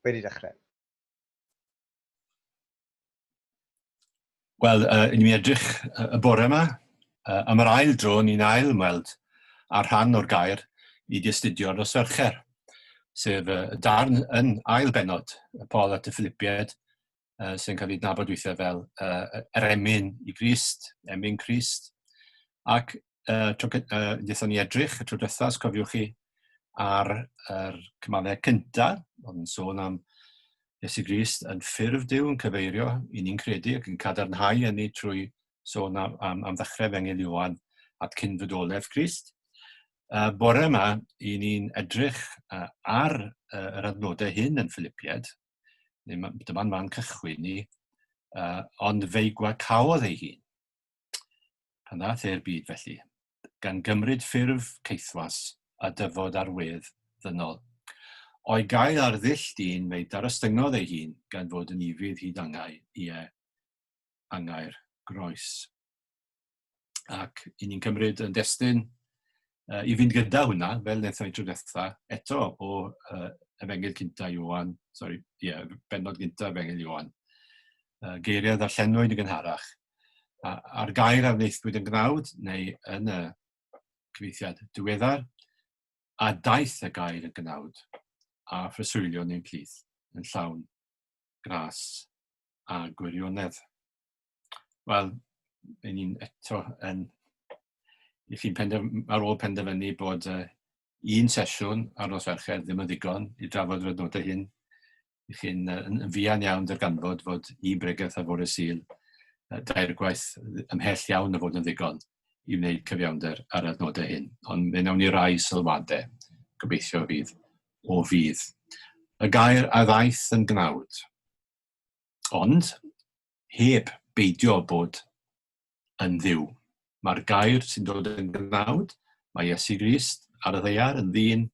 Wedi dechrau. Wel, uh, ni'n edrych y bore yma, uh, am yr ail dro ni'n ail ymweld â rhan o'r gair i dystudio nos Fercher, sef uh, darn yn ail benod y Paul at y Philipied, uh, sy'n cael ei dnabod weithiau fel uh, yr emyn i Grist, emyn Crist. Ac uh, tro, uh, ni edrych y tro diwethaf, os cofiwch chi, ar yr er cymalau cyntaf, oedd yn sôn am Iesu Grist yn ffurf Dyw yn cyfeirio i ni'n credu ac yn cadarnhau yn ei trwy sôn am, am, am ddechrau fengil Iwan at cyn fydolef Grist. Uh, bore yma, i ni'n edrych uh, ar uh, yr adnodau hyn yn Philipied, Dyma'n fan cychwyn ni. Uh, ond feigwa caodd ei hun. Pan ddath e'r byd felly, gan gymryd ffurf ceithwas a dyfod ar wedd ddynol. O'i gael ar ddull dyn, fe darostyngodd ei hun gan fod yn ifydd hyd angau, ie, angau'r groes. ac i ni'n cymryd yn destyn uh, i fynd gyda hwnna, fel wnaethon ni tro diwetha, eto o uh, efengyl cynta Iwan, sorry, ie, yeah, benod gynta efengyl Iwan, uh, geiriau ddarllenwyd yn gynharach, a'r gair a wnaethwyd yn gnawd neu yn y cyfeithiad diweddar, a daeth y gair yn gnawd, a phreswylion ein plith yn llawn gras a gwirionedd. wel, yn ni'n eto yn i chi pendef, ar ôl penderfynu bod uh, un sesiwn ar nos Fercher ddim yn ddigon i drafod yr adnodau hyn. I chi'n uh, yn, yn fuan iawn darganfod fod i bregaeth ar fore syl uh, dair gwaith ymhell iawn o fod yn ddigon i wneud cyfiawnder ar adnodau hyn. Ond fe wnawn ni rai sylwadau, gobeithio fydd o fydd. Y gair a ddaeth yn gnawd. Ond, heb beidio â bod yn Dduw. Mae'r gair sy'n dod yn gnawd, mae Iesu Grist ar y ddeiar yn ddyn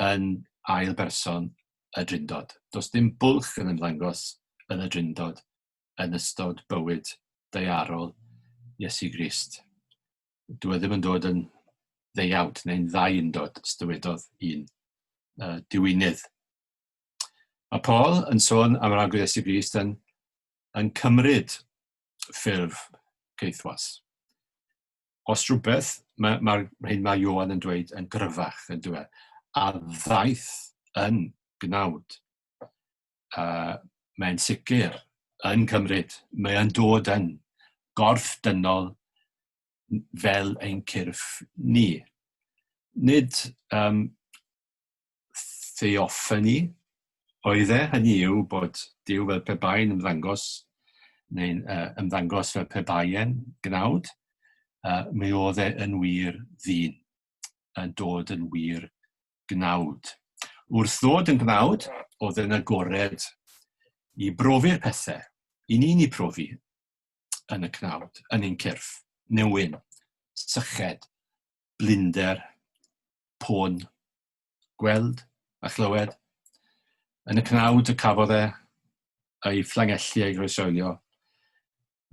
yn ail berson y Drindod. Does dim bwlch yn ymddangos yn y Drindod yn ystod bywyd deiarol Iesu Grist. Dw e ddim yn dod yn ddeiawd neu'n ddau undod, dywedodd un uh, diwynydd. Mae Paul yn sôn am yr Arglwydd Iesu Grist yn, yn cymryd ffurf geithwas. Os rhywbeth, mae'r ma, ma hyn mae Johan yn dweud yn gryfach, yn dweud, e, a ddaeth yn gnawd. Uh, mae'n sicr yn cymryd, mae'n dod yn gorff dynol fel ein cyrff ni. Nid um, theoffani oedd e, hynny yw bod Duw fel pe bai'n ymddangos, neu'n uh, ymddangos fel pe bai'n gnawd, uh, mi oedd e yn wir ddyn, yn dod yn wir gnawd. Wrth ddod yn gnawd, oedd e'n agored i brofi'r pethau, i ni'n ei profi yn y cnawd, yn ein cyrff, newyn, syched, blinder pôn gweld a chlywed. Yn y cnawd y cafodd e ei fflangelli ei groesoelio.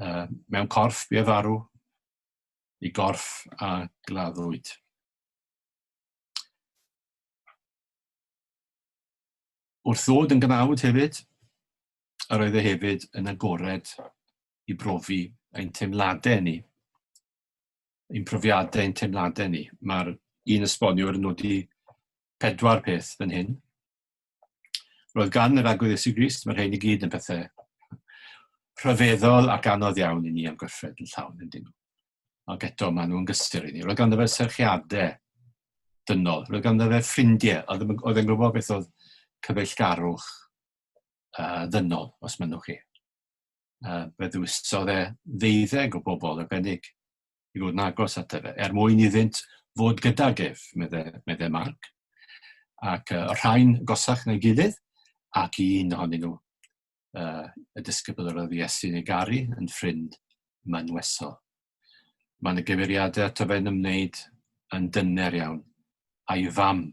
Uh, mewn corff bu e farw, i gorff a gladdwyd. Wrth ddod yn gnawd hefyd, yr oedd e hefyd yn agored i brofi ein teimladau ni. ein profiadau, ein teimladau ni. Mae'r un esboniwr yn nodi pedwar peth yn hyn. Roedd gan yr agwedd Iesu Grist, mae'r rhain i gyd yn pethau rhyfeddol ac anodd iawn i ni am gyffred yn llawn yn dyn. Ac eto, maen nhw'n gysur i ni. Roedd ganddo fe serchiadau dynol. Roedd ganddo fe ffrindiau. Oedd e'n gwybod beth oedd cyfeillgarwch uh, ddynol, os mynnwch chi. uh, fe ddwysodd e ddeuddeg o bobl arbennig i fod yn agos at efe, er mwyn iddynt fod gydag ef, medde, medde Mark. Ac uh, rhain gosach na'i gilydd, ac i un ohonyn nhw, uh, y disgybl yr oedd Iesu'n ei garu, yn ffrind manwesol. Mae yna gyfeiriadau ato fe'n ymwneud yn dyner iawn, a'i fam.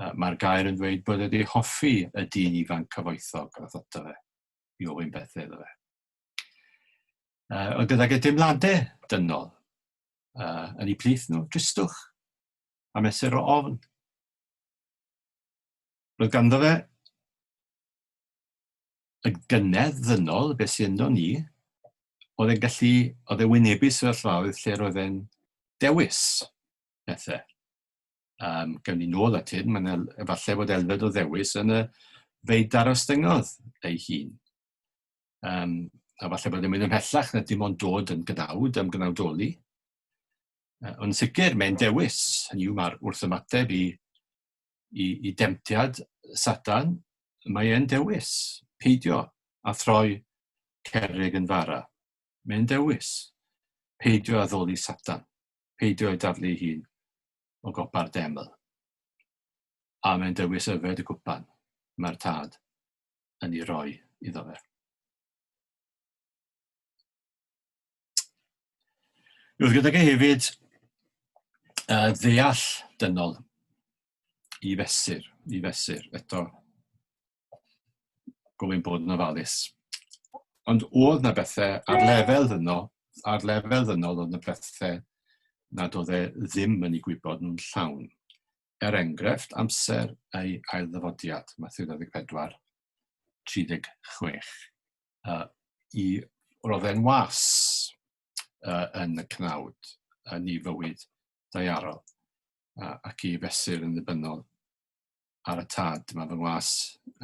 Uh, Mae'r gair yn dweud bod wedi hoffi y dyn ifanc cyfoethog a ddododd e. i ofyn bethau iddo fe. Uh, ond gydag y dimladau dynol uh, yn ei plith nhw, dristwch a mesur o ofn. Roedd ganddo fe y gynedd ddynol, beth sy'n ynddo ni, oedd e'n gallu, oedd e'n wynebu sefyllfaoedd lle roedd e'n dewis bethau. Um, gawn ni nôl at hyn, mae'n efallai bod elfed o ddewis yn y feid darostyngodd ei hun. Um, a falle bod yn mynd ymhellach na dim ond dod yn gynawd am gynawdoli. Uh, ond sicr, mae'n dewis, hynny yw mae'r wrth ymateb i, i, i demtiad Satan, mae'n dewis peidio a throi cerrig yn fara. Mae'n dewis peidio a ddoli Satan. peidio â'i daflu ei hun o gopa'r deml. A mae'n dewis yfed y cwpan mae'r tad yn ei roi iddo fe. Roedd gydag e hefyd uh, ddeall dynol i fesur, i fesur. Eto, gofyn bod yn ofalus. Ond oedd na bethau ar lefel ddynol, ar lefel ddynol oedd na bethau nad oedd e ddim yn ei gwybod yn llawn. Er enghraifft, amser ei ail ddyfodiad, Matthew 24, 36. Uh, I roedd e'n was uh, yn y cnawd yn ei fywyd daiarol uh, ac i fesur yn ddibynnol ar y tad. Mae fy ngwas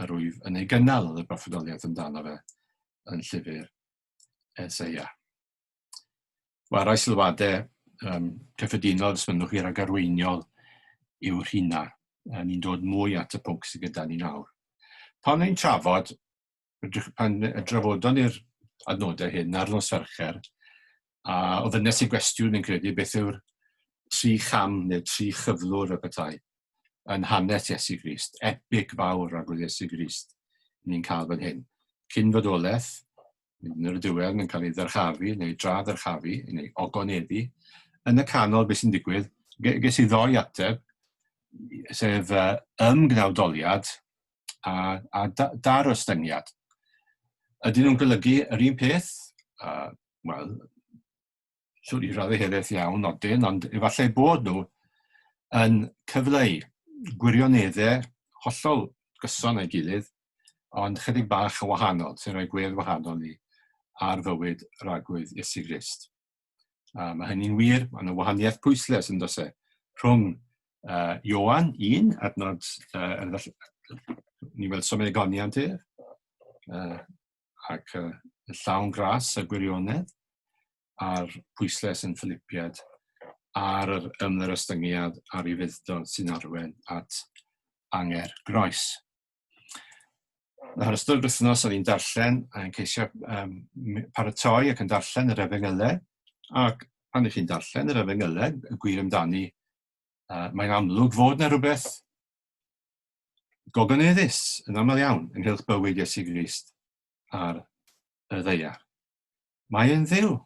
yr wyf yn ei gynnal oedd y broffwydoliaeth amdano fe yn llyfr Eseia. Wel, rhoi sylwadau um, cyffredinol os mynnwch chi rhag arweiniol yw'r rhina. Ni'n dod mwy at y pwnc sydd gyda ni nawr. Pan ni'n trafod rydych, pan y drafodon ni'r adnodau hyn ar nos Fercher, a ofynes i gwestiwn yn credu beth yw'r tri cham neu tri chyflwr y petai yn hanes Iesu Grist, epic fawr ag oedd Iesu Grist ni'n cael fan hyn. Cyn fodolaeth, yn yr diwedd, mae'n cael ei ddyrchafu neu dra ddyrchafu neu ogoneddi. Yn y canol, beth sy'n digwydd, ges i ddoi ateb, sef uh, ymgnawdoliad a, a da, dar ostyngiad. Ydyn nhw'n golygu yr un peth? Uh, Wel, siwr i raddau helaeth iawn odyn, ond efallai bod nhw yn cyfleu gwirioneddau hollol gyson a'i gilydd, ond chydig bach yn wahanol, sy'n rhoi gwedd wahanol ni ar fywyd ragwyd Iesu Grist. A mae hynny'n wir, mae yna wahaniaeth pwyslais yn dose rhwng uh, Ioan 1, adnod, uh, ni weld somau egoniant ef, uh, ac uh, llawn gras y gwirionedd, a'r pwyslais yn ffilipiad ar yr ymdderystyngiad a'r ufuddod sy'n arwen at anger groes. Nawr, ystod wythnos o'n i'n darllen a'n ceisio um, paratoi ac yn darllen yr efengylau, ac pan ych chi'n darllen yr efengylau, y gwir amdani, uh, mae'n amlwg fod na rhywbeth gogoneddus yn aml iawn ynghylch bywyd Iesu Grist ar y ddeiar. Mae yn ddiw.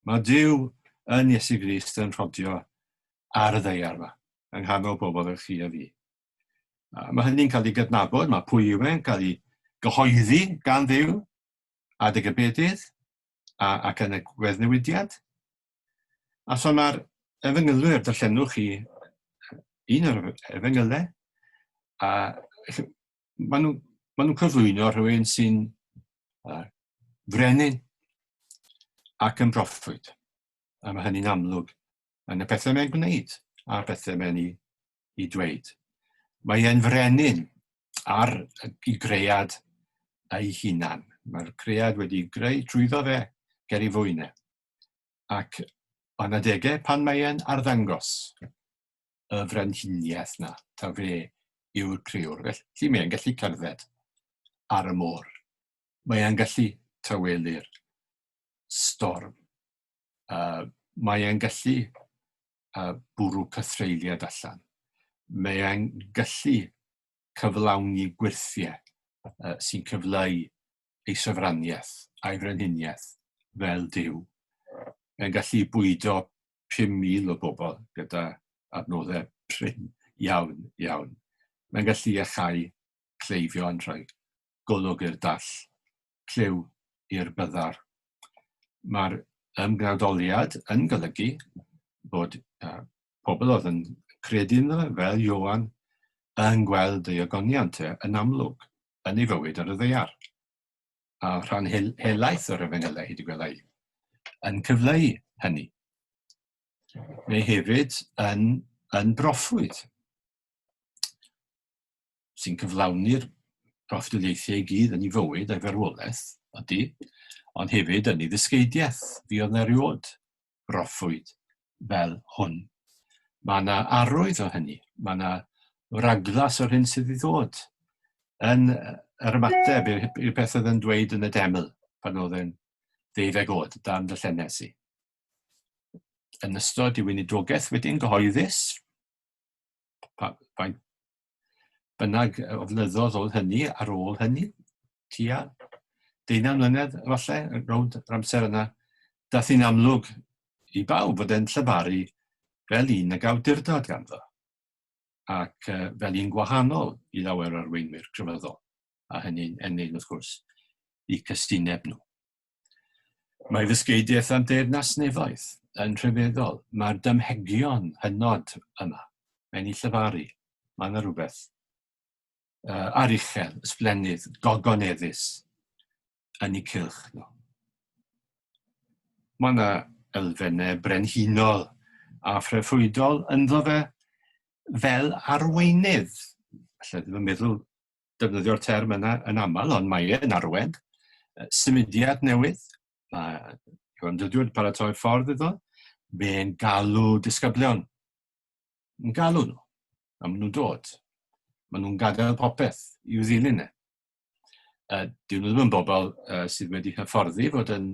Mae Dyw yn Iesu Grist yn rhodio ar y ddeiar yma, yng nghanol bobl yn chi a fi. A mae hynny'n cael ei gydnabod, mae pwy yw e'n cael ei gyhoeddi gan ddew, adeg y bedydd, a, ac yn y gweddnewidiad. A so mae'r efengylwyr, darllenwch chi un o'r efengylau, a maen nhw'n ma nhw cyflwyno rhywun sy'n uh, frenin ac yn broffwyd. A mae hynny'n amlwg yn y pethau mae'n gwneud a'r pethau mae'n ei i dweud. Mae e'n frenin ar y greiad ei hunan. Mae'r creiad wedi greu trwyddo fe ger ei fwyne. Ac o'n adegau pan mae e'n arddangos y frenhiniaeth na, ta fe yw'r creiwr. Felly mae'n gallu cerdded ar y môr. Mae'n gallu tawelu'r storm. Uh, mae'n gallu uh, bwrw cythreiliad allan. Mae e'n gallu cyflawni gwirthiau uh, sy'n cyfleu ei sofraniaeth a'i frenhiniaeth fel Dyw. Mae'n gallu bwydo 5,000 o bobl gyda adnoddau prin iawn, iawn. Mae'n gallu iachau cleifion rhoi golwg i'r dall clyw i'r byddar. Mae'r ymgnadoliad yn golygu bod uh, pobl oedd yn credu ynddo fe, fel Iowan, yn gweld ei ogoniant e yn amlwg yn ei fywyd ar y ddeiar. A rhan hel helaeth o'r efengylau hyd y gwelai yn cyfleu hynny. Mae hefyd yn, yn broffwyd. sy'n cyflawni'r proffwydoliaethau i gyd yn ei fywyd a'i farwolaeth, ydy, ond hefyd yn ei ddysgeidiaeth, fi oedd na rywod broffwyd fel hwn. Mae yna arwydd o hynny, mae yna raglas o'r hyn sydd i ddod yn yr ymateb i'r peth oedd yn dweud yn y deml pan oedd yn ddeuddeg oed, dan dy llennes i. Yn ystod i weinidrogaeth wedi'n gyhoeddus, faint bynnag o flynyddoedd oedd hynny ar ôl hynny, tua deunaw mlynedd efallai, rownd yr amser yna, dath hi'n amlwg i bawb fod e'n llyfaru fel un ag awdurdod ganddo, ac uh, fel un gwahanol i lawer o'r weinwyr crefyddol, a hynny'n ennyn wrth gwrs i cystineb nhw. Mae ddysgeidiaeth a'n deyrnas nefoedd yn rhyfeddol. Mae'r dymhegion hynod yma. Mae'n ei llyfaru. Mae yna rhywbeth uh, aruchel, ysblennydd, gogoneddus yn ei cylch nhw. Mae yna elfennau brenhinol a phrefwydol ynddo fe fel arweinydd. Felly, ddim yn meddwl defnyddio'r term yna yn aml, ond mae e'n arwen. Symudiad newydd, mae Iwan Dydwyd paratoi ffordd iddo, mae'n galw disgyblion. Yn galw nhw, a maen nhw'n dod. Maen nhw'n gadael popeth i'w ddilyn e. Uh, dyn nhw ddim yn bobl uh, sydd wedi hyfforddi fod yn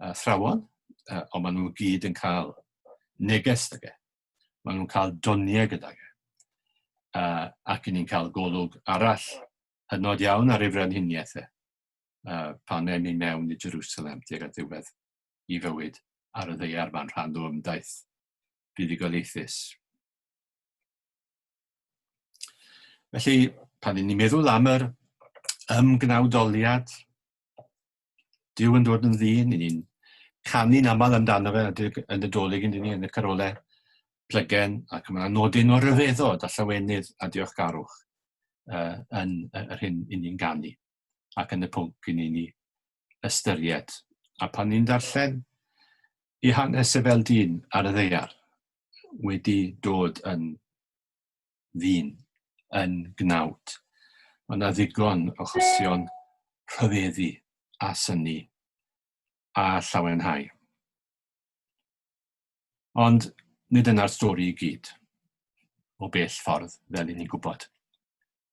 athrawon, uh, ond maen nhw gyd yn cael neges ag e. Maen nhw'n cael doniau gydag e. Uh, ac ni'n cael golwg arall hynod iawn ar ei frenhiniaeth e. Uh, pan ewn ni mewn i Jerusalem tuag at ddiwedd i fywyd ar y ddeiar fan rhan o ymdaith buddugoliaethus. Felly, pan ni'n meddwl am yr ymgnawdoliad Dyw yn dod yn ddyn, i ni'n canu'n aml amdano fe yn y dolyg yn ni, yn y carole plygen, ac mae'n nodyn o ryfeddod a llawenydd a diolchgarwch uh, yn yr hyn i ni'n ganu, ac yn y pwnc i ni'n ni ystyried. A pan ni'n darllen i hanes y fel dyn ar y ddeiar, wedi dod yn ddyn yn gnawd. Mae yna ddigon o achosion rhyfeddu a synnu a llawenhau. Ond nid yna'r stori i gyd, o bell ffordd, fel i ni'n gwybod.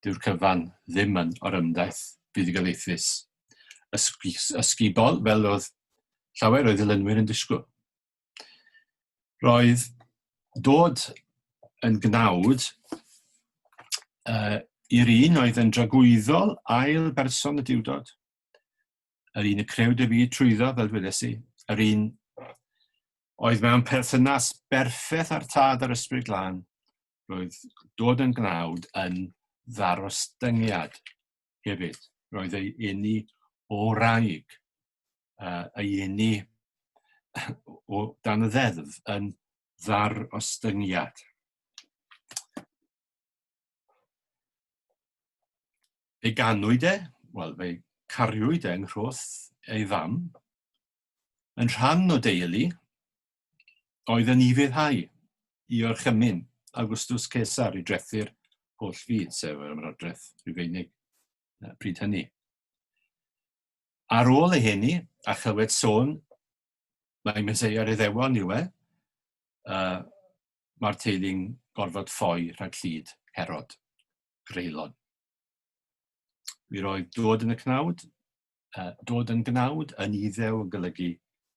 Dyw'r cyfan ddim yn orymdaith buddugoliaethus ysgubol fel oedd llawer o'i ddilynwyr yn disgwyl. Roedd dod yn gnawd uh, i'r un oedd yn dragwyddol ail berson y diwdod, yr un y creu dy fi trwyddo, fel dwedes i, yr un oedd mewn perthynas berffeth â'r tad a'r ysbryd glân, roedd dod yn gnawd yn ddarostyngiad hefyd. Roedd ei eni o raig. uh, y uni o dan y ddeddf yn ddar ostyngiad. Ei ganwyd e, wel, fe cariwyd e yng Nghroth ei fam, yn rhan o deulu oedd yn ifeddhau i orchymyn Augustus Caesar i drethu'r holl fyd, sef yr ymrodraeth Rufeinig pryd hynny. Ar ôl ei heni, a chywed sôn mae Meseia ar Iddewon yw e, uh, mae'r teulu'n gorfod ffoi rhag llid Herod, greulon. Mi roedd dod yn y cnawd, uh, dod yn gnawd yn iddew yn golygu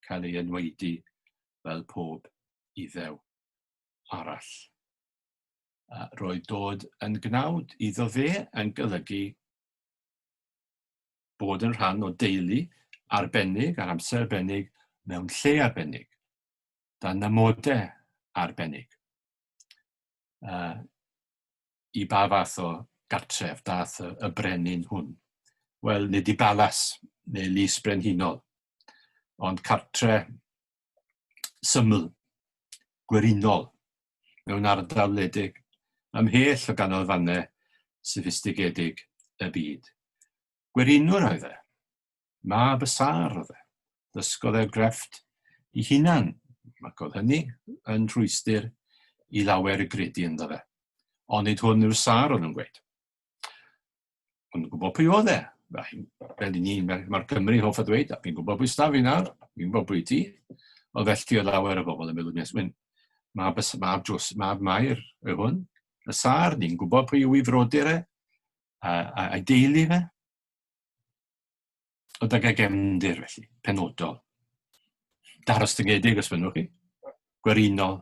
cael ei enwaedu fel pob iddew arall. Uh, roedd dod yn gnawd iddo fe yn golygu bod yn rhan o deulu arbennig ar amser arbennig mewn lle arbennig, dan amodau arbennig. Uh, I ba fath o gartref dath y, y brenin hwn? Wel, nid i balas neu lys brenhinol, ond cartre syml, gwerinol, mewn ardal wledig, ymhell o ganolfannau soffistigedig y byd. Gwerinwr oedd e. Mab y sâr oedd e. Dysgodd e'r grefft i hunan, ac oedd hynny yn rhwystr i lawer y gredu ynddo fe. Onid hwn yw'r sâr o'n nhw'n gweud. Ond gwybod pwy oedd e? Fel i ni, mae'r Cymru hoff o ddweud, a fi'n gwybod pwy staf fi nawr, fi'n gwybod pwy ti. Ond felly oedd lawer o bobl yn meddwl, nes mynd, mab, mab, Jos, mab Mair yw hwn, y sar, ni'n gwybod pwy yw i frodyr e, a, a, a deulu fe. O dygau gefndir, felly, penodol. Daros dyngedig, os fynnwch chi. Gwerinol,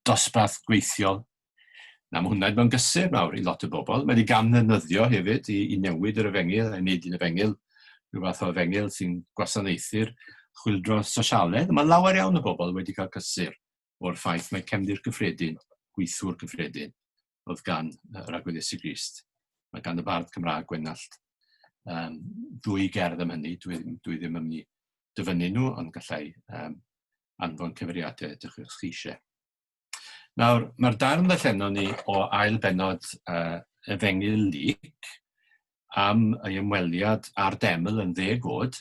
dosbarth gweithiol. Na, mae hwnna'n mewn gysur mawr i lot o bobl. Mae wedi gamddefnyddio hefyd i, i newid yr efengyl, a wneud un efengyl, rhyw fath o efengyl sy'n gwasanaethu'r chwildro sosialedd. Mae lawer iawn o bobl wedi cael cysur o'r ffaith mae cefndir gyffredin, gweithwyr gyffredin, oedd gan yr Agwedd Iesu Grist. Mae gan y bardd Cymraeg Gwenallt um, ddwy gerdd am hynny, dwi, dwi ddim yn mynd i dyfynnu nhw, ond gallai um, anfon cyfeiriadau ydych chi eisiau. Nawr, mae'r darn ddarllenon ni o ail benod uh, efengu Lyc am ei ymweliad â'r deml yn dde god,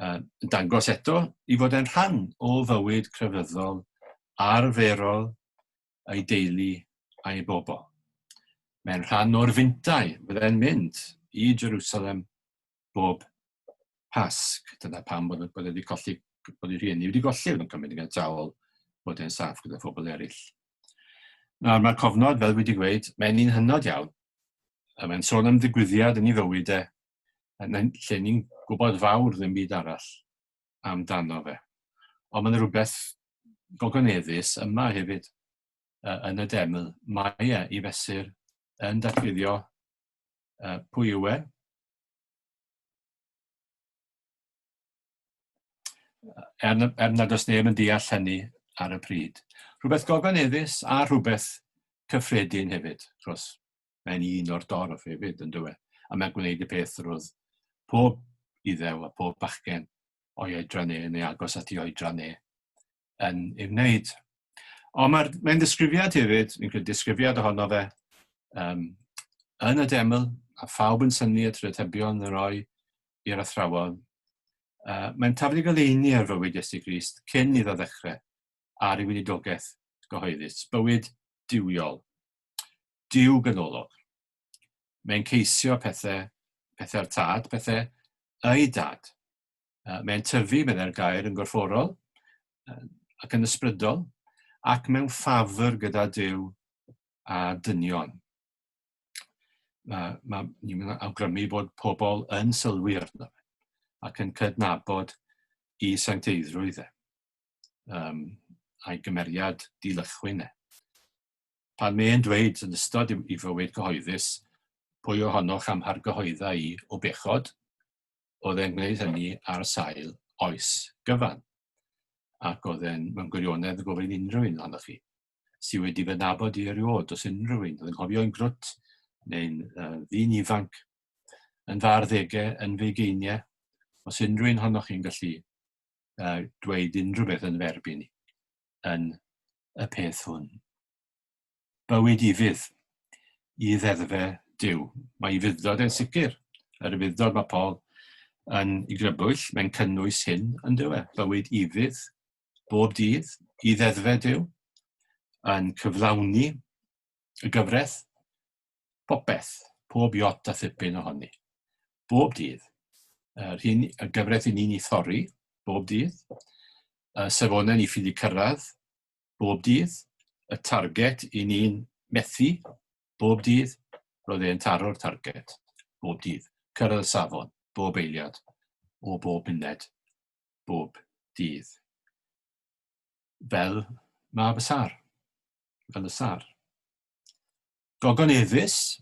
uh, dangos eto i fod e'n rhan o fywyd crefyddol arferol ei deulu a'i bobl. Mae'n rhan o'r fintau fydde'n mynd i Jerusalem bob Pasg. Dyna pam bod, bod wedi colli, bod ei rhieni wedi golli, oedd yn cymryd yn gadael bod e'n saff gyda phobl eraill. Nawr, mae'r cofnod, fel wedi gweud, mae'n un hynod iawn. A mae'n sôn am ddigwyddiad yn ei fywyd e, lle ni'n gwybod fawr ddim byd arall. amdano fe. Ond mae'n rhywbeth gogoneddus yma hefyd uh, yn y deml. Mae e i fesur yn datguddio uh, pwy yw e. Er, er nad oes neb yn deall hynny ar y pryd. Rhywbeth gogoneddus a rhywbeth cyffredin hefyd, wrth Mae'n un o'r dorf hefyd, yn dywe, a mae'n gwneud y peth roedd pob iddew a pob bachgen o'i oedran e, neu agos at ei oedran e, yn ei wneud. Ond mae'n mae ddisgrifiad hefyd, yn gwneud disgrifiad ohono fe, um, yn y deml, a phawb yn syni at rydhebion yn roi i'r athrawon, uh, mae'n tafod i goleini ar fywyd Iesu Grist cyn iddo ddechrau ar ei winidogaeth gyhoeddus, bywyd diwiol. Duw ganolog. Mae'n ceisio pethau, pethau'r tad, pethau ei dad. Mae'n tyfu, meddai'r gair, yn gorfforol ac yn ysbrydol, ac mewn ffafr gyda Duw a dynion. Mae, mae, ni'n awgrymu bod pobl yn sylwi arno fe ac yn cydnabod i sancteiddrwydd e, um, a'i gymeriad dilychwyn e. Pan mae'n dweud yn ystod ei fywyd cyhoeddus, Pwy ohonoch a'm hargyhoedda i o bechod? oedd e'n gwneud hynny ar sail oes gyfan. Ac oedd e'n, mewn gwirionedd, yn gofyn unrhyw un ohonoch chi sydd wedi fy nabod i erioed, os unrhyw un, oedd yn cofio yn grwt neu'n uh, ddyn ifanc, yn fy arddegau, yn fy geiniau, os unrhyw un honnoch chi'n gallu uh, dweud unrhyw beth yn ferb i ni. yn y peth hwn. Bywyd i fydd, i ddeddfe Dyw. Mae i fyddod yn sicr. Yr fyddod mae Paul yn ei grybwyll, mae'n cynnwys hyn yn dywe. Bywyd i fydd, bob dydd, i ddeddfe Dyw, yn cyflawni y gyfraith, Popeth, pob jot a phipyn ohoni. Bob dydd. Yr hyn y gyfraith i ni'n ei thorri, bob dydd. Y safonau ni ffili cyrraedd, bob dydd. Y target i ni'n methu, bob dydd. Roedd e'n taro'r target, bob dydd. Cyrraedd y safon, bob eiliad, o bob muned, bob dydd. Fel mab y sar. Fel y sar. Gogon Efys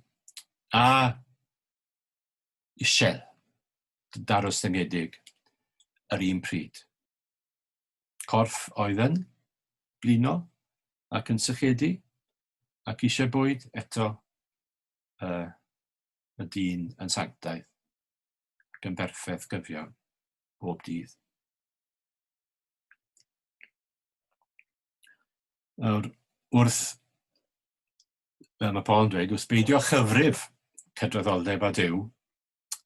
a Ishel, darostyngedig yr un pryd. Corff oedd yn blino ac yn sychedu ac eisiau bwyd eto uh, y dyn yn sanctaidd ac yn berffaith gyfiawn bob dydd. Nawr, wrth, fel mae Paul yn dweud, wrth beidio chyfrif cydraddoldeb a dew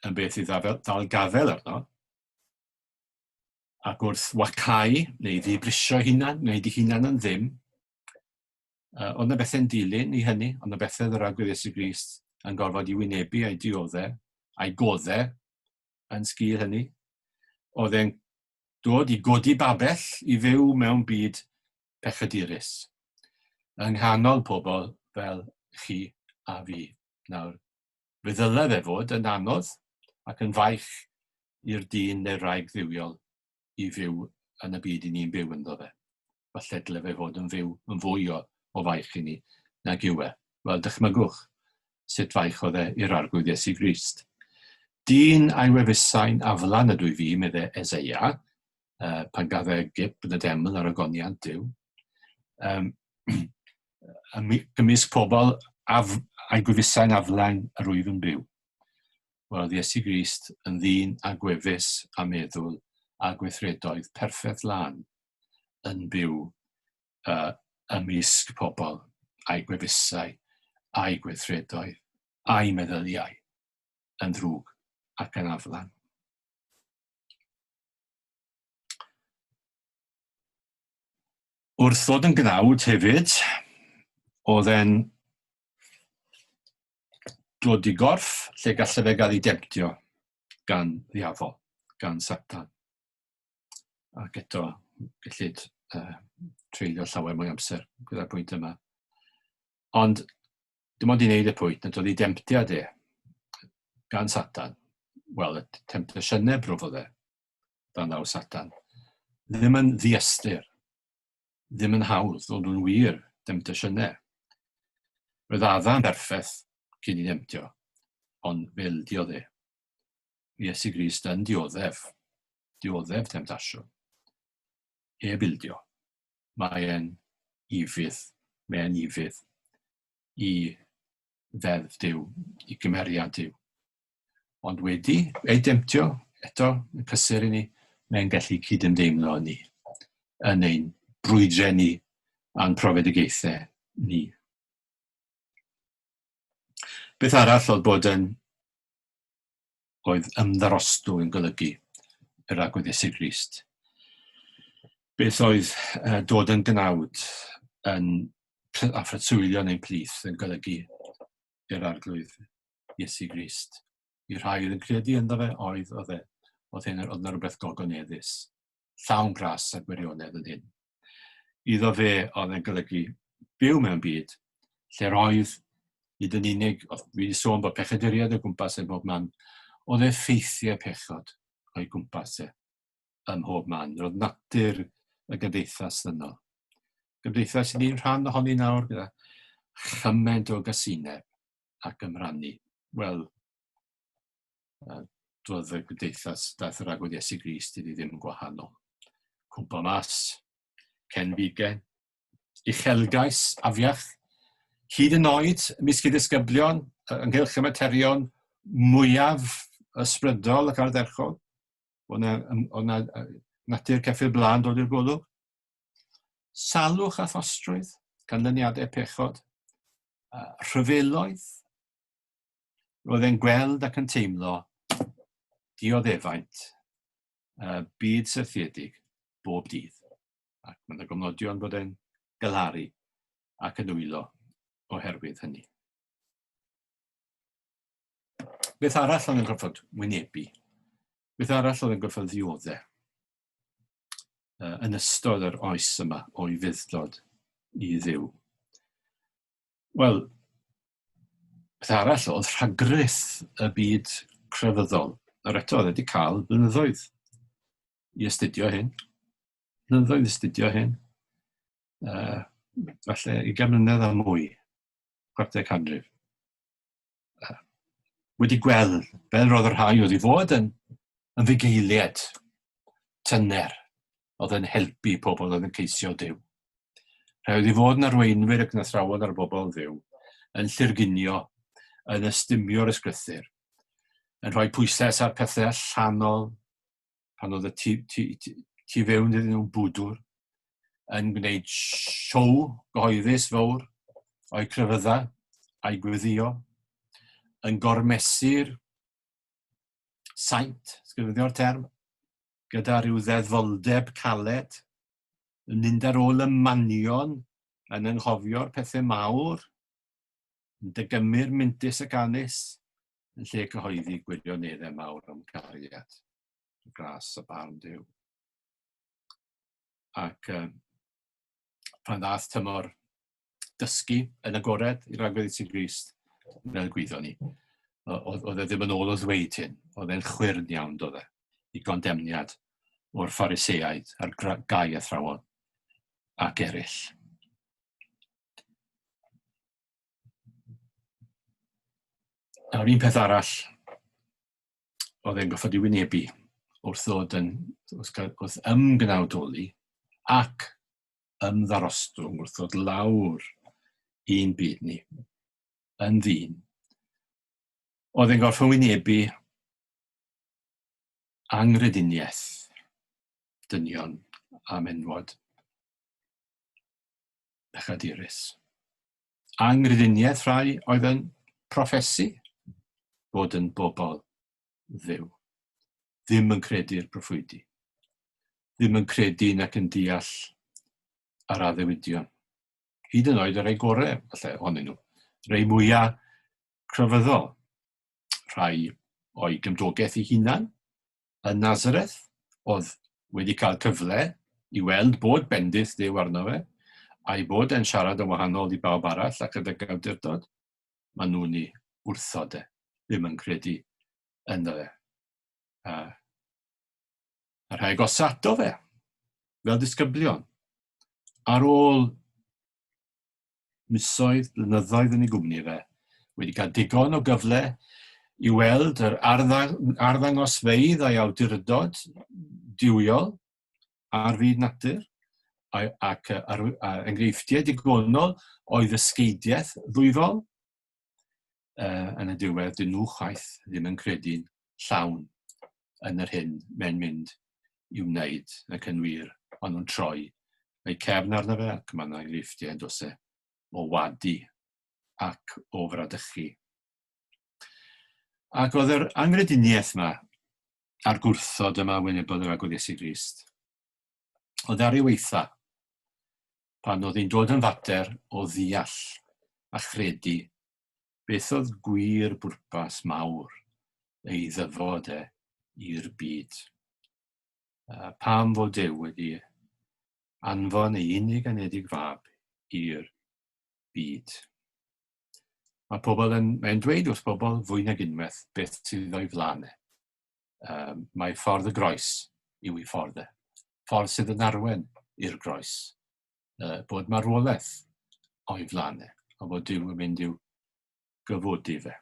yn beth sydd ddal gafael arno, ac wrth wacau neu ddibrisio hunan, neu di hunan yn ddim, uh, ond y bethau'n dilyn i hynny, ond y bethau yr agwedd Iesu Grist yn gorfod i wynebu a'i dioddau, a'i goddau yn sgil hynny, oedd e'n dod i godi babell i fyw mewn byd pechadurus yng nghanol pobl fel chi a fi. Nawr, fe ddyle fe fod yn anodd ac yn faich i'r dyn neu'r wraig dduwiol i fyw yn y byd 'yn ni'n byw ynddo fe. falle dyle fe fod yn fyw yn fwy o, o faich i ni nag yw e. Wel, dychmygwch sut faich oedd e i'r arglwydd Iesu Grist. Dyn a'i wefusau'n aflan ydw i fi, medde Ezeia, uh, pan gaf e gip yn y deml ar ogoniant Dyw. Um, gymysg pobl af, a'i gwefusau'n aflan yr wyf yn byw. Wel, oedd Iesu Grist yn ddyn a gwefus a meddwl a gweithredoedd perffaith lan yn byw uh, ymysg pobl a'i gwefusau, a'i gweithredoedd, a'i meddyliau yn ddrwg ac yn aflan. Wrth ddod yn gnawd hefyd, oedd e'n dod i gorff lle gallai fe gael ei demptio gan ddiafol, gan Satan. ac eto, gellid uh, treulio llawer mwy amser gyda'r pwynt yma. Ond dim ond i wneud y pwynt nad oedd ei demtiad e gan Satan, wel, y temptasiynau brwf oedd e, dan ddaw Satan, ddim yn ddiastyr, ddim yn hawdd, ond nhw'n wir, demtasiynau. Roedd Adam berffaith cyn i nemtio, ond fe ildiodd e. Iesu Grist yn dioddef, dioddef temtasiwn. Heb ildio. Mae e'n ifydd, mae e'n ifydd i ddeddf Dyw, i gymeriad Dyw. Ond wedi ei demtio, eto, y cysur i ni, mae'n gallu cydymdeimlo ni yn ein brwydrau ni a'n profedigaethau ni. Beth arall oedd bod yn oedd ymddarostw yn golygu yr agwedd Iesu Grist. Beth oedd uh, dod yn gnawd yn affratwylio neu'n plith yn golygu yr arglwydd Iesu Grist. I rhai oedd yn credu ynddo fe, oedd oedd e. Oedd hyn oedd yna rhywbeth gogoneddus. llawn glas a gwirionedd yn hyn. Iddo fe oedd yn golygu byw mewn byd lle'r oedd nid yn unig, oedd wedi sôn bod pechaduriaid o gwmpas e bob man, oedd effeithiau pechod o'i gwmpas e ym mhob man. Roedd natur y gymdeithas yno. Gymdeithas i ni'n rhan ohoni nawr gyda chymaint o gasineb ac ymrannu. Wel, doedd y gymdeithas, daeth yr agwedd Iesu Grist iddi ddim yn gwahanol. Cwmpa mas, cen fige, uchelgais, afiach, hyd yn oed ymysg ei ddisgyblion, ynghylch y materion mwyaf ysbrydol ac ardderchog, o'n yna natur ceffyl blaen dod i'r golwg. Salwch a thostrwydd, canlyniadau pechod, rhyfeloedd, roedd e'n gweld ac yn teimlo dioddefaint y byd syrthiedig bob dydd. Ac mae'n y gofnodion bod e'n galaru ac yn wylo oherwydd hynny. Beth arall oedd yn gorfod wynebu? Beth arall oedd yn gorfod ddioddau? yn ystod yr oes yma o'i fuddlod i ddiw. Wel, Beth arall oedd rhagrith y byd crefyddol. Yr eto, oedd wedi cael blynyddoedd i astudio hyn. Blynyddoedd i astudio hyn. Uh, falle i mlynedd a mwy, chwarter canrif. Uh, wedi gweld, fel roedd y rhai oedd i fod yn, yn fugeiliad tyner oedd yn helpu pobl oedd yn ceisio Duw. Rhaid wedi fod yn arweinwyr ac yn athrawon ar bobl ddiw, yn llurgunio, yn ystymio'r ysgrythyr, yn rhoi pwyslais ar pethau allanol, pan oedd y tu, tu, tu, tu fewn iddyn nhw'n bwdwr, yn gwneud siow gyhoeddus fawr o'i crefydda a'i gweddio, yn gormesu'r saint, sgrifenddio'r term, gyda rhyw ddeddyldeb caled, yn mynd ar ôl y manion, yn ynghofio'r pethau mawr, yn dygymur mintys ac anus, yn lle cyhoeddi gwirioneddau mawr am cariad, y gras a barn dew. Ac um, pan ddath tymor dysgu yn agored i'r agwedd i ti Grist, fel gwyddo ni. Oedd e ddim yn ôl o ddweud hyn, oedd e'n chwyrn iawn dod e, i gondemniad o'r ffariseaid a'r gau athrawon ac eraill. Nawr un peth arall oedd e'n goffod i wynebu wrth ddod yn, wrth, wrth ymgwnawdoli ac yn ddarostwng wrth ddod lawr i'n byd ni, yn ddyn, oedd yn gorfod wynebu angrediniaeth dynion a menwod pechadurus. Angrediniaeth rhai oedd yn profesi bod yn bobl Dduw. Ddim yn credu'r proffwydi. Ddim yn credu nac yn deall yr addewidion. Hyd yn oed y rhai gorau, falle, ohonyn nhw. Rhai mwyaf crefyddol. Rhai o'i gymdogaeth ei hunan yn Nazareth, oedd wedi cael cyfle i weld bod bendith Dduw arno fe, a'i bod e'n siarad yn wahanol i bawb arall ac yn dygawdurdod. maen nhw'n ei wrthod de, ddim yn credu ynddo fe. A, a rhaeg os ato fe, fel disgyblion, ar ôl misoedd, blynyddoedd yn ei gwmni fe, wedi cael digon o gyfle i weld yr arddangosfeydd a'i awdurdod diwiol, ar fyd natur, ac enghreifftiau digonol o ddysgeidiaeth ddwyfol, yn y diwedd, dyn nhw chwaith ddim yn credu'n llawn yn yr hyn mae'n mynd i wneud ac yn wir, ond nhw'n troi eu cefn arno fe ac mae yna enghreifftiau dos e o wadu ac o fradychu. Ac oedd yr angrediniaeth yma a'r gwrthod yma wynebodd yr agwedd Iesu Grist. O ddari weitha, pan oedd hi'n dod yn fater o ddeall a chredu beth oedd gwir bwrpas mawr ei ddyfod e i'r byd. Pam fod Dew wedi anfon ei unig anedig fab i'r byd. Mae pobl yn, mae'n dweud wrth bobl fwy nag unwaith beth sydd o'i flaen e. Um, mae ffordd y groes yw ei ffordd e. Ffordd sydd yn arwen i'r groes. Uh, bod marwolaeth o'i flaen e, a bod Dyw yn mynd i'w gyfodi fe.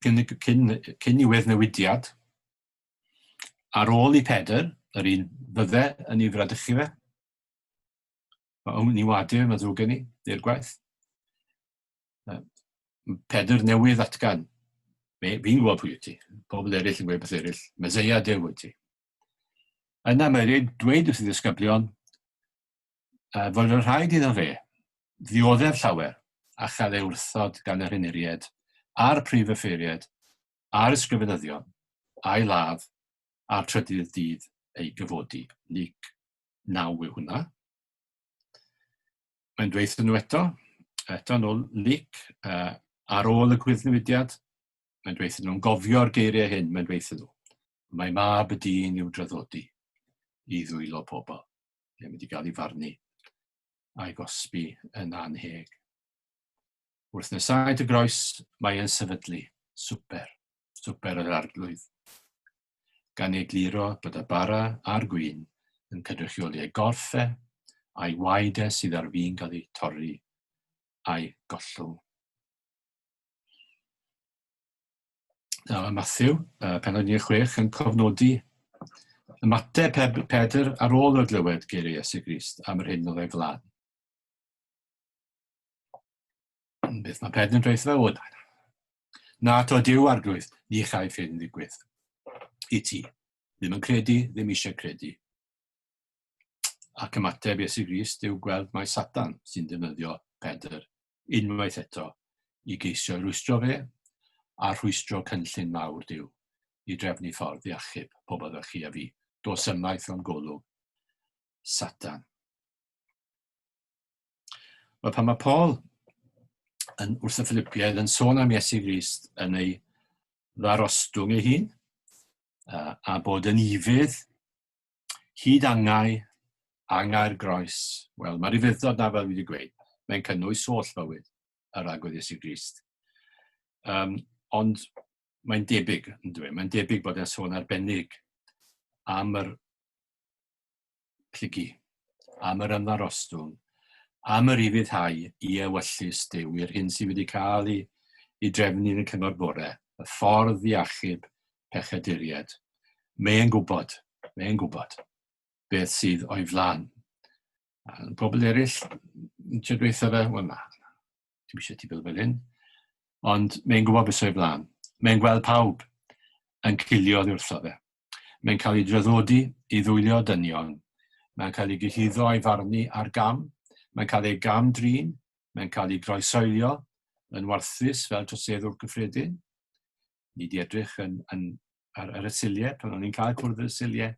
cyn, cyn, cyn i weddnewidiad, Ar ôl i Pedr, yr un fydde yn ei fradychu fe, mae o'n ni wadir, mae ddrwg gen i, i'r gwaith. Pedr newydd atgan. Fi'n gwybod pwy wyt ti. Pobl eraill yn gweud beth eraill. Meseia Duw wyt ti. Yna mae rhaid dweud wrth y ddisgyblion uh, fod yn rhaid iddo fe ddioddef llawer a chael ei wrthod gan yr hyniried a'r prif yffeiried a'r ysgrifenyddion a'i ladd a'r trydydd dydd ei gyfodi. Luc 9 yw hwnna. Mae'n dweithio nhw eto, eto yn ôl Luc, uh, ar ôl y gwyddnewidiad, mae'n dweithio nhw'n gofio'r geiriau hyn, mae'n dweithio nhw. Mae mab y dyn i'w draddodi i ddwylo pobl. Mae'n mynd i gael ei farnu a'i gosbi yn anheg. Wrth nesau dy groes, mae yn sefydlu. Swper. Swper yr arglwydd. Gan ei gliro bod y bara a'r gwyn yn cynrychioli ei gorffe, a'i waed e sydd ar fin cael ei torri, a'i gollwng. Nawr, mae Matthew, uh, penod 16, yn cofnodi ymateb Pedr ar ôl y glywed geiriau Iesu Grist am yr hyn oedd ei flan. Beth mae pedyn dweud fe wod? Na to diw arglwydd, ni chai ffyn ddigwydd. I ti. Ddim yn credu, ddim eisiau credu. Ac ymateb Iesu Grist yw gweld mae Satan sy'n defnyddio Pedr unwaith eto i geisio rwystro fe a rhwystro cynllun mawr diw i drefnu ffordd i achub pobl fel chi a fi. Dos ymaith o'n golwg Satan. Wel, pan mae Paul yn wrth y Philipiaid yn sôn am Iesu Grist yn ei ddarostwng ei hun, a, a bod yn ifydd hyd angau, angau'r groes. Wel, mae'r ufuddod na fel wedi gweud, mae'n cynnwys holl fywyd yr agwedd Iesu Grist. Um, ond mae'n debyg, yn dweud, mae'n debyg bod e'n sôn arbennig am yr plygu, am yr ymddarostwng, am yr ufuddhau i ewyllys Duw i'r hyn sydd wedi cael ei, ei drefnu yn y cyngor bore, y ffordd i achub pechaduriaid. Mae e'n gwybod, mae e'n gwybod beth sydd o'i flan. A pobl eraill, yn trio dweud fe, wel na, Dwi'n eisiau ti fel fel hyn. Ond mae'n gwybod beth sy'n ei flaen. Mae'n gweld pawb yn cilio oddi wrtho fe. Mae'n cael ei draddodi i ddwylio dynion. Mae'n cael ei gyhuddo a'i farnu ar gam. Mae'n cael ei gam drin. Mae'n cael ei groesoelio yn warthus fel troseddwr cyffredin. Ni di edrych yn, yn, ar, ar y siliau, pan o'n i'n cael cwrdd y siliau,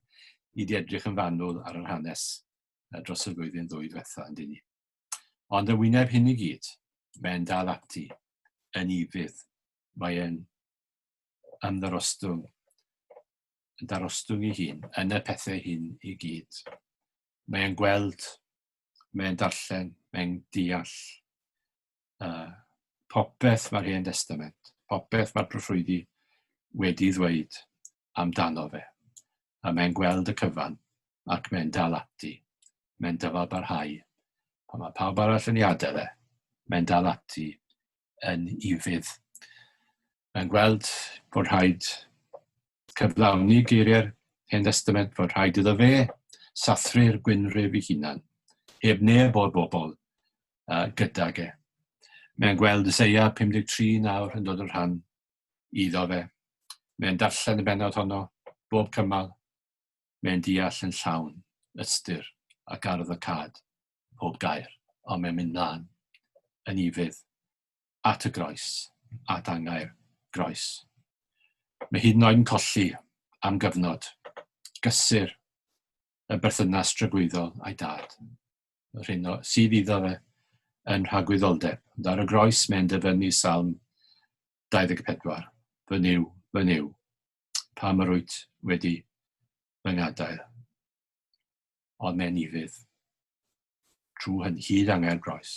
ni di edrych yn fanwl ar yr hanes dros y flwyddyn ddwy diwetha, yn dyn ni. Ond yn wyneb hyn i gyd, mae'n dal ati yn ifydd. Mae'n ymddarostwng, yn darostwng ei hun, yn y pethau hyn i gyd. Mae'n gweld, mae'n darllen, mae'n deall uh, popeth mae'r Hen Testament, popeth mae'r proffwydi wedi ddweud amdano fe. A mae'n gweld y cyfan ac mae'n dal ati. Mae'n dyfalbarhau. Pan mae pawb arall yn ei adael e, mae'n dal ati yn ufudd. Mae'n gweld bod rhaid cyflawni geiriau'r Hen Destament, bod rhaid iddo fe sathru'r gwynrif ei hunan, heb neb o'r bobl uh, gydag e. Mae'n gweld Yseia 53 nawr yn dod yn rhan iddo fe. Mae'n darllen y benod honno bob cymal Mae'n deall yn llawn, ystyr, ac arwyddocâd, pob gair, ond mae'n mynd mlaen, yn ufudd, at y groes, at angau'r groes. Mae hyd yn oed yn colli, am gyfnod, gysur, y berthynas drygwyddol a'i dad. Yr hyn o, sydd iddo fe yn rhagwyddoldeb. Ond ar y groes mae'n dyfynnu salm 24. Fy niw, fy niw, pam yr wyt wedi fy ngadael. Ond mae'n ifydd, trwy hyn hyd angau'r groes,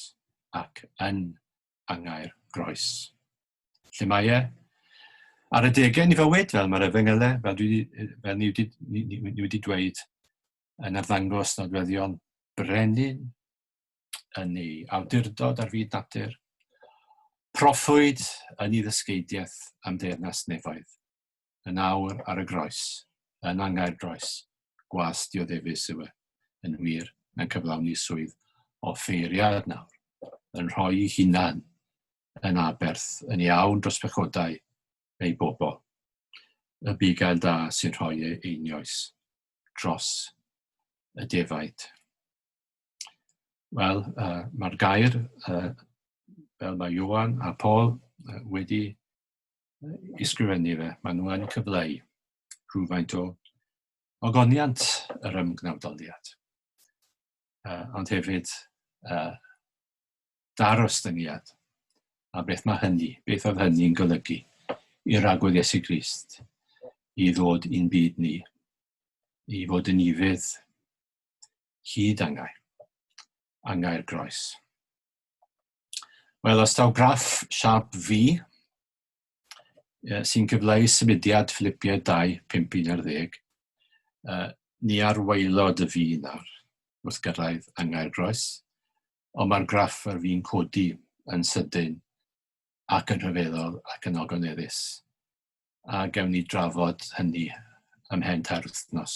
ac yn angau'r groes. Lle mae e? Ar y degau ni fywyd, fel mae'r efengylau, fel, dwi, fel ni, wedi, ni, ni, ni wedi dweud, yn arddangos nodweddion brenin yn ei awdurdod ar fyd natur, proffwyd yn ei ddysgeidiaeth am deyrnas nefoedd, yn awr ar y groes, yn angau'r groes, gwas dioddefus yw e, yn wir, mae'n cyflawni swydd o ffeiriad nawr, yn rhoi ei hunan yn aberth yn iawn dros pechodau ei bobl, y bugail da sy'n rhoi ei einioes dros y defaid. Wel, uh, mae'r gair, uh, fel mae Johan a Paul uh, wedi isgrifennu fe, mae nhw yn cyfleu rhywfaint o ogoniant yr ymgnawdoliad. Uh, ond hefyd uh, darostyngiad a beth mae hynny, beth oedd hynny'n golygu i'r agwedd Iesu Grist i ddod i'n byd ni, i fod yn ifydd hyd angair, angair groes. Wel, os taw graff siap fi sy'n cyfleu symudiad fflipiau 2, 5, 11, uh, ni ar waelod y fi nawr wrth gyrraedd angair groes, ond mae'r graff ar fi'n codi yn sydyn ac yn rhyfeddol ac yn ogoneddus. A gewn ni drafod hynny ymhen tair wythnos.